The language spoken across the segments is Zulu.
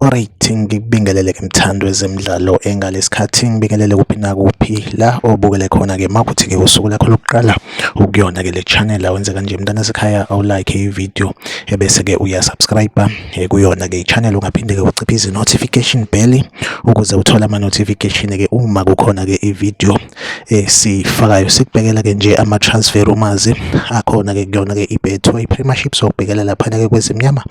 Alright, ngikubingelele ke mthando wezemidlalo engalesikhathi ngibingelele kuphi nakuphi la obukele khona ke makuthi ke usuku lakho lokuqala ukuyona ke le channel awenze kanje mntana sekhaya awu like i video ebese ke uya subscribe eh, kuyona ke i channel ungaphinde ke uciphe izi notification bell ukuze uthole ama notification ke uma kukhona ke i video eh sifakayo sikubhekela ke nje ama transfer rumors akhona ke kuyona ke iBetway Premiership sokubhekela lapha ke kwezimnyama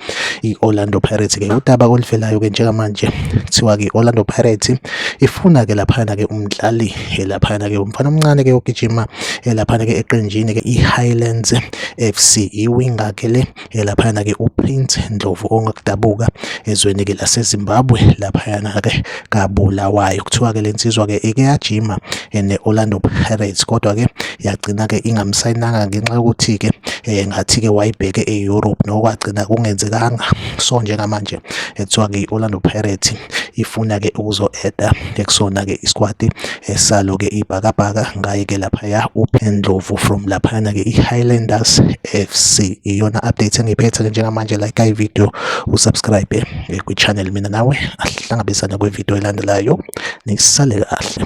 iOrlando Pirates ke udaba oluvelayo ke njengamanje kuthiwa ke Orlando Pirates ifuna ke lapha ke umdlali eh, lapha ke umfana omncane ke ogijima eh, lapha ke eqenjini ke iHighlands FC iwinga ke le ke laphayana ke uPrince Ndlovu ongakudabuka ezweni ke laseZimbabwe laphayana ke kabulawayo kuthiwa ke lensizwa ke ike yajima ne Orlando Pirates kodwa ke yagcina ke ingamsayinanga ngenxa yokuthi ke eh, ngathi ke wayibheke eEurope nokwagcina kungenzekanga so njengamanje ekuthiwa ke iOrlando Pirates ifuna ke ukuzo-eda ekusona ke isquad Esalo-ke iBhakabhaka ngaye-ke laphaya uPendlovu from laphayana-ke i-Highlanders FC. Iyona update engiphethe-ke njengamanje like ivideo usubscribe eh, kwi-channel mina nawe ahlangabezane kwivideo elandelayo nisale kahle.